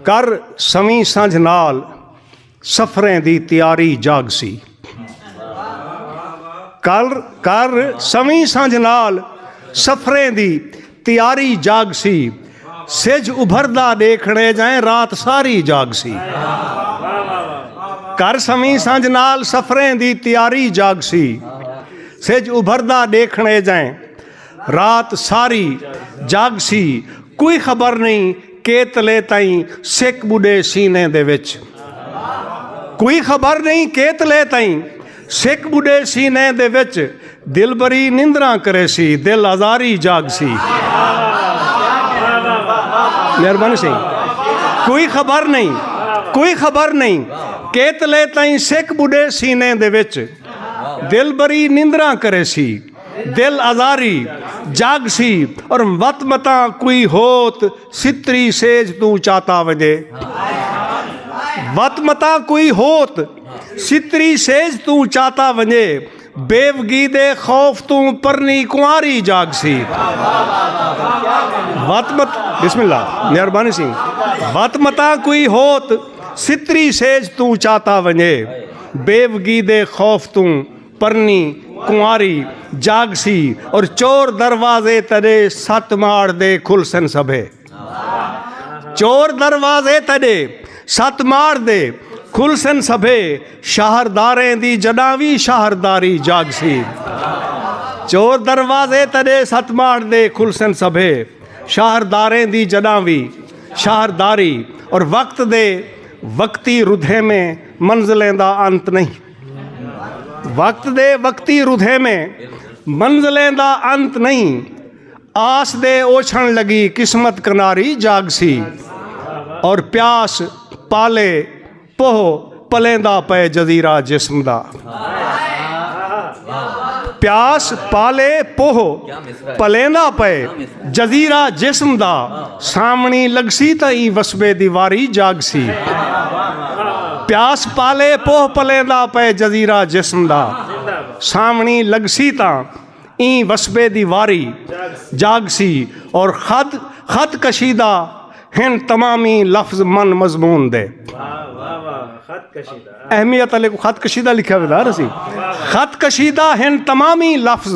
کر سویں سنجھ نال سفریں دی تیاری جاگسی کر کر سویں سنجھ نال سفریں دی تیاری جاگسی سج ابھردا دیکھنے جائیں رات ساری جاگسی کر سویں سنجھ نال سفریں دی تیاری جاگسی سج ابھردا دیکھنے جائیں رات ساری جاگ سی کوئی خبر نئیں کیتلے تئیں سک ٻݙے سینے دے وچ کوئی خبر نئیں کیتلے تئیں سک ٻݙے سینے دے وچ دلبری نندراں کریسی دل آزاری جاگ سی مہربانی سی کوئی خبر نئیں کوئی خبر نئیں کیتلے تئیں سک ٻݙے سینے دے وچ دلبری نندراں کریسی دل آزاری جاگ سی اور وت متاں کوئی ہوت ستری سیج توں چاتا ونجے وت متاں کوئی ہوت ستری سیج توں چاتا ونجے بیوگی دے خوف توں پرنی کنواری جاگ سی وت مت بسم اللہ مہربانی سی وت متاں کوئی ہوت ستری سیج توں چاتا ونجے بیوگی دے خوف توں پرنی کنواری جاگسی اور چور دروازے تڈے ست ماڑ دے کھل سن سبھے چور دروازے تڈے ست ماڑ دے کھل سن سبھے شہرداریں دی جڈاں وی شہرداری جاگسی چور دروازے تڈے ست ماڑ دے کھل سن سبھے شہرداریں دی جڈاں وی شہرداری اور وقت دے وقتی ردھے میں منزلیں دا انت نہیں وقت دے وقتی ردھے میں منزلیں دا انت نئیں آس دے اوچھن لگی قسمت کناری جاگ سی اور پیاس پالے پوہ پلیں دا پے جزیرہ جسم دا پیاس پالے پوہ پلیں دا پے جزیرہ جسم دا سامنڑیں لگسی تاں ایں وسبے دی واری جاگسی۔ پیاس پالے پوہ پلیندا پئے جزیرہ جسم دا سامنڑیں لگسی تاں ایں وسبے دی واری جاگسی اور خط خط کشیدہ ہن تمامی لفظ من مضمون دے اہمیت علی کو خط کشیدہ لکھا ودا رسی خط کشیدہ ہن تمامی لفظ